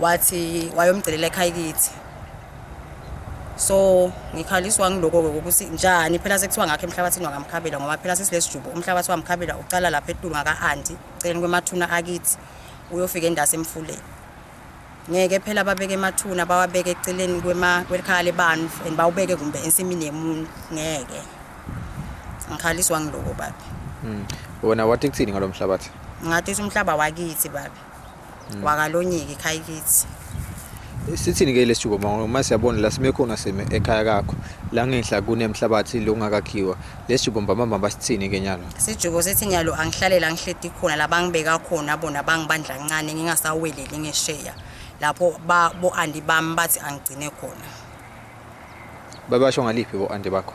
wathi wayomcelela ekhaya kithi so ngikhaliswa ngiloko-ke ukuthi njani phela sekuthiwa ngakho emhlabathini wangamkhabela ngoba phela sesilesijubo umhlabathi wamkhabela ucala lapha etulu ngaka-anti celeni kwemathuna akithi uyofika endase emfuleni ngeke phela babeke emathuna bawabeke eceleni kwelikhaya lebantu and bawubeke kumbe ensimini yemuntu ngeke ngikhaliswa ngiloko babe hmm. wona wathi kuthini ngalo mhlabathi ngathi umhlaba wakithi babe Mm. wakalonyiki ekhaya kithi sithini ke lesithuko mama uma siyabona la sime khona sime ekhaya kakho la ngenhla kunemhlabathi lo ungakakhiwa lesithuko mama mama basithini ke nyalo sijuko sithi nyalo angihlalela ngihledi khona la bangibeka khona bona bangibandla kancane ngingasaweleli ngesheya lapho ba bo andi bami bathi angigcine khona babasho ngaliphi bo andi bakho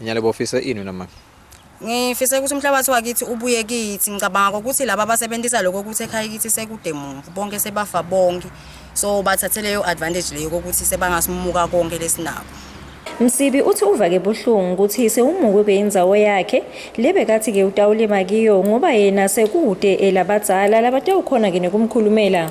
Inyalebo ufisa ini wena mama? Ngifisa ukuthi umhlabathi wakithi ubuye kithi. Ngicabanga ukuthi laba abasebenzisa lokho ukuthi ekhaya kithi sekude mumvu bonke sebafa bonke. So bathathe leyo advantage leyo ukuthi sebangasimuka konke lesinako. Msibi uthi uvake buhlungu ukuthi sewumukwe beyindzawo yakhe lebekathi ke utawulima kiyo ngoba yena sekude elabadzala labatawukhona ke nekumkhulumela.